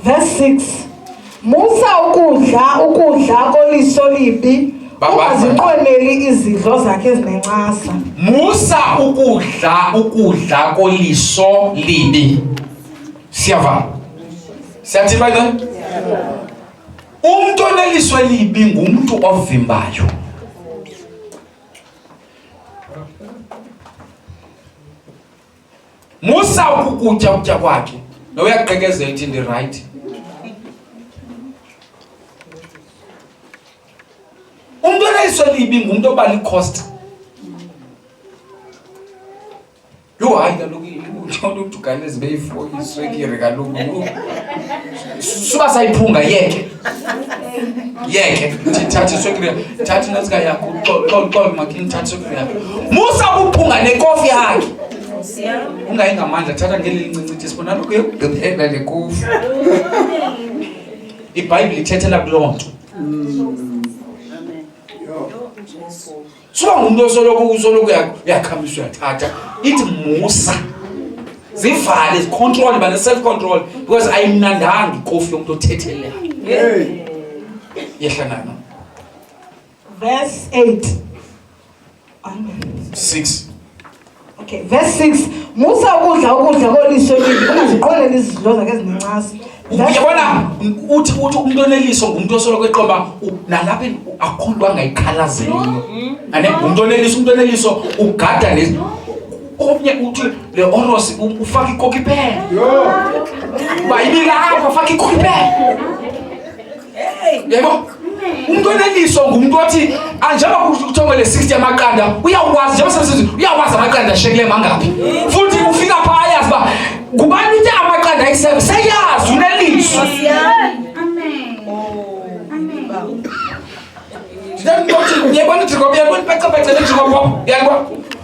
Verse 6. Musa ukudla ukudla koliso libi ungazinqweneli izidlo zakhe ezinencasa. Musa ukudla ukudla koliso libi. Siyava. Siyathi bayi then. Umuntu oneliso elibi ngumuntu ovimbayo. musa ukukutya ukutya kwakhe noyaqekezela ithi ndirayithi umntu oneliso libi ngumntu oba likhosta Yho, hayi kaloku uthonto udugane ezibe ifo iswekire kaloku yho. Suba sayiphunga yeke. Yeke. Thi thatha iswekire. Thatha inazika yakho. Xol xol xol makini thatha iswekire yakho. Musa ukuphunga nekofi yakhe. Ungayi ngamandla thatha ngeli lincinci ithi sibona lokhu yokugqibela le kofi. IBhayibhile ithethela kuloo nto. Suka ngumntu osoloko usoloko uyakhamisa uyathatha. Ithi musa. Zivale, zicontrol, bane self control because ayimnandanga ikofi yomntu othethelelayo. Hey. Yehla nana. Verse 8. Amen. 6 Okay, verse 6. Musa ukudla ukudla koliso elibi, ungaziqoleli izidlo zakhe ezinencasa. Yabona uthi uthi umuntu oneliso ngumuntu osoloko eqoba nalapha akho nto angayikhalazeli. Ane umuntu oneliso umuntu oneliso ugada ne omnye uthi le oros ufaka ikoki phela. Yho. Bayibila apha ufaka ikoki phela. yebo umuntu oneliswa ngumuntu othi ah, njengoba kuthiwa le 60 yamaqanda uyakwazi njengoba sesithi uyakwazi amaqanda ashekile mangaphi futhi ufika pha ayazi uba ngubani uthe amaqanda ayi-seven seyazi uneliswa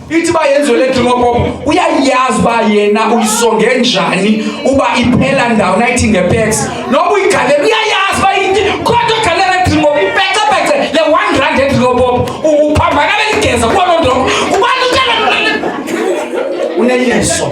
ithi uba yenziwe le dringopopo uyayazi uba yena uyisonge njani uba iphela ndawo nayithi ngepex noba uyigalela uyayazi uba yinti kodwa ugalela edringopo ipecepece le one rand edringopopo uphambana beligeza kuba loo nto ubani utela uneyeso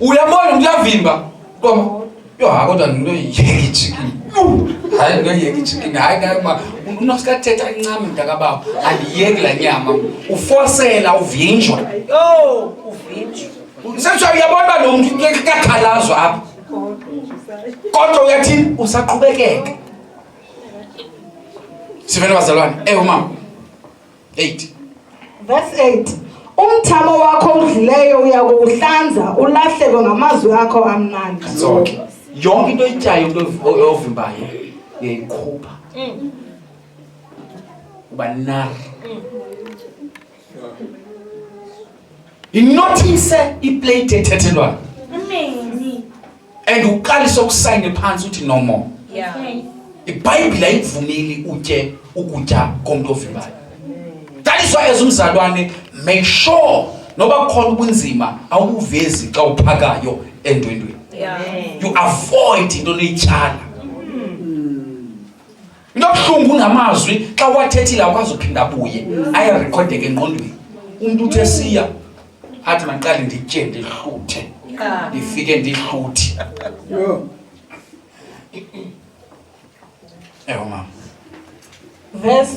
uyambona kuyavimba koma yo ha kodwa nto yekijikini hayi nto yekijikini hayi kama unosikathetha incame mntakababa andiyeki la nyama ufosela uvinjwa yo uvinjwa sesho uyabona uba lo mntu kakhalazwa apha kodwa uyathini usaqhubekeka sivele bazalwane ewu mama 8 verse 8 umthamo wakho udlileyo uyakuhlanza ulahleko ngamazwi akho amnandi zonke yonke into oyityayo into ovimbayo uyayikhupha mm. uba nar mm. inothise iplate ethethelwayo and uqalise ukusayine phantsi uthi no more yeah. ibhayibhile ayikuvumeli utye ukutya komntu ovivayo that is why as umzalwane make sure noba kukhona ubunzima awubuvezi xa uphakayo endwendweni yeah. you avoid into neyityala Into abuhlungu ungamazwi xa wathethile akwazi uphinda abuye ayarekhodeke engqondweni. Umuntu uthe siya athi mandiqale nditye ndihluthe ndifike ndihluthi ewe mama verse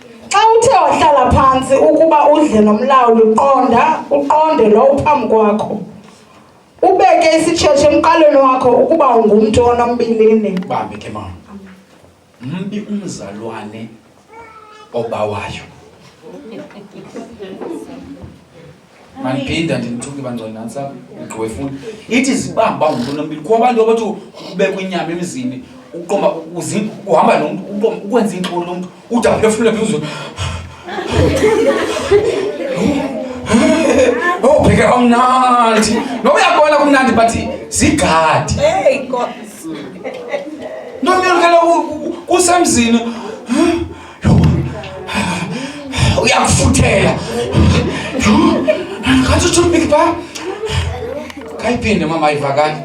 Xa uthe wahlala phantsi ukuba udle nomlawuli qonda uqonde lo uphambi kwakho. Ubeke isitshetshe emqalweni wakho ukuba ungumntu onombilini. Bambe ke mama. Mbi umzalwane obawayo. mandiphinda ndimthuke bangcwele nantsi apha ugqiwefuna ithi zibamba ungumntu onompilo kho abantu abathi ubekwa inyama emzini uqoma uhamba nomntu uqoma ukwenza iintoni lomntu ude aphefumule phezulu obheke oh, kamnandi noba uyabona kumnandi but zigadi ntomntu kele kusemzini uyakufuthela ngathi uthi umbiki pha kayiphinde mama ayivakali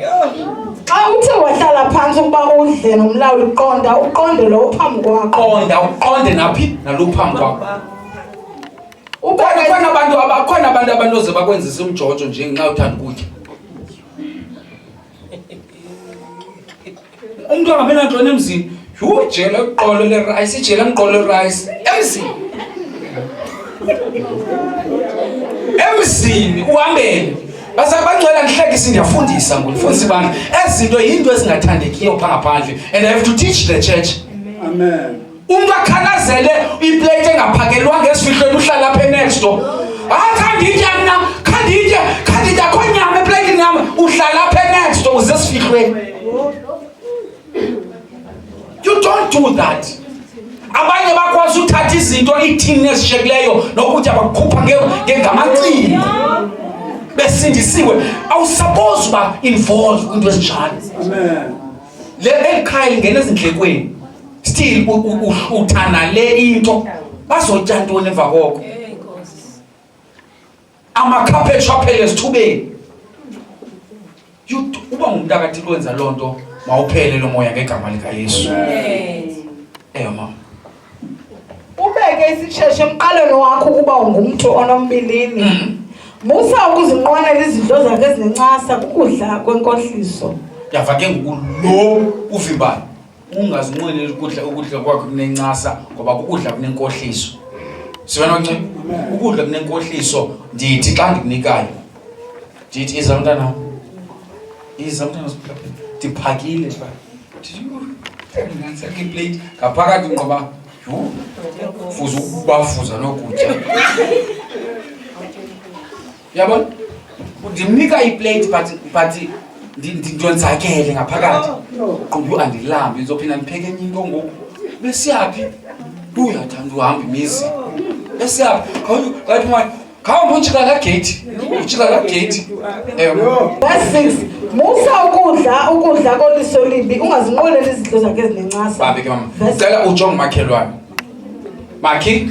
xa uthe wahlala phantsi ukuba udle nomlawuli uqonda uqonde lo uphambi kwakho qonda uqonde naphi nalo uphambi kwakho ukhona abantu abakhona abantu abanoze bakwenzisa umjojo nje ngenxa uthanda ukutya umntu angabi nantoni emzini yhu jela iqolo lerayisi ijela ngiqolo lerayisi emzini emzini uhambeni basabangcwela ndihlekisi ndiyafundisa ngundifundisa ibana ezi zinto yinto ezingathandekiyo phaa ngaphandle and i have to teach the church Amen. umntu akhalazele iplate engaphakelwanga esifihlweni uhlala apha enext door hayi khanditya mna khanditya khanditya kho nyama eplatini yam uhlala apha enext door uze esifihlweni you don't do that abanye bakwazi uthatha izinto iithini ezishekileyo nokutya bakukhupha ngengamacingo besindisiwe awusapozi uba involve kwinto ezinjalo le eli khaya lingena ezindlekweni still uhlutha nale into bazotya ntoni emva koko amakhaphetshu aphele esithubeni uba ngumntu akathi lwenza loo nto mawuphele lo moya ngegama likayesu eyo mama Ubeke isisheshe emqalweni wakho ukuba ungumntu onombilini. Mm. Musa ukuzinqwenela izinto zakhe ezinencasa kukudla kwenkohliso. Yava ke ngoku lo uvimbayo ungazinqweneli ukudla ukudla kwakhe kunencasa ngoba kukudla kunenkohliso. Sibona ncinci ukudla kunenkohliso ndithi xa ndikunikayo ndithi iza mntanam iza mntana ndiphakile ba ndingansake iplate ngaphakathi ngoba yho fuza ukubafuza nokutya yabona ndimnika iplate but but ndonzakele ngaphakathi qumbu andilambi ndizophinda ndipheke enye into ngoku besiyaphi uyathanda uhamba imizi besiyaphi khawuthi wathi Khawu mujikala gate. Mujikala gate. Ewe. That's six. Musa ukudla ukudla koliso limbi ungazinqoleli izinto zakhe ezinencasa. Babe ke mama. Verse- Cela ujonge umakhelwane. Makhi.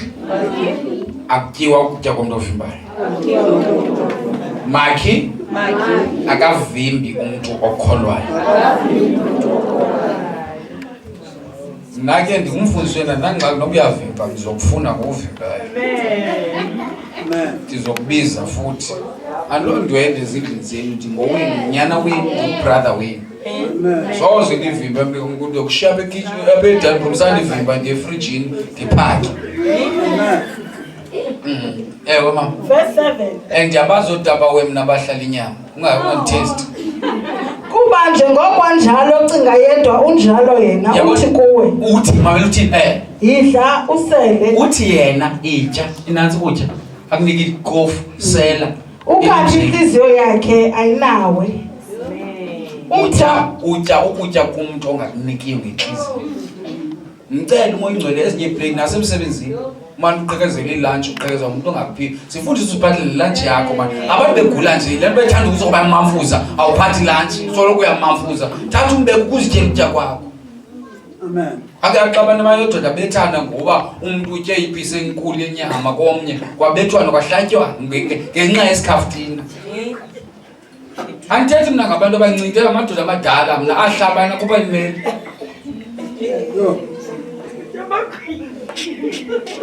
Akutyiwa ukutya komntu ovimbayo. Makhi akavimbi umntu okholwayo. Nake ndingumfundisi wena ndandingxaki noba uyavimba ndizokufuna ngokuvimbayo. Ndizokubiza futhi. Andiloo ndwende ezindlini zenu ndingowenu nyana wenu ndingubrother wenu. Soze ndivimbe mntu umntu yokushiya apha ekitchen apha edani room sandivimba ndiye efrijini ndiphake. Mm. Ewe mama. Verse 7. And ndiyabazi oodaba wem nabahlala inyama. kuba njengoko anjalo ocinga yedwa unjalo yena Yabo- uthi kuwe uthi mamela uthi eh yidla usele uthi yena itya inantsi ukutya akunika ikofu sela ukathi intliziyo yakhe ayinawe utya umtha utya ukutya kumntu ongakunikio ngentliziyo mcele umoya ingcwele ezinye iibreak nasemsebenzini mani uqekezele ilantshi uqekezela umntu ongaphili sifundisa usiphathele ilantshi yakho mani abantu begula nje le nto bethanda ukuthi oba mamfuza awuphathi ilantshi soloko uyamamfuza thatha umbeka ukuzityela ukutya kwakho akaxabana imali yododa bethana ngoba umntu utye ipisi enkulu yenyama komnye kwabethwana kwahlatywana ngenxa yesikhafutina andithethi mna ngabantu abancinci amadoda amadala mna ahlabana kuba limeli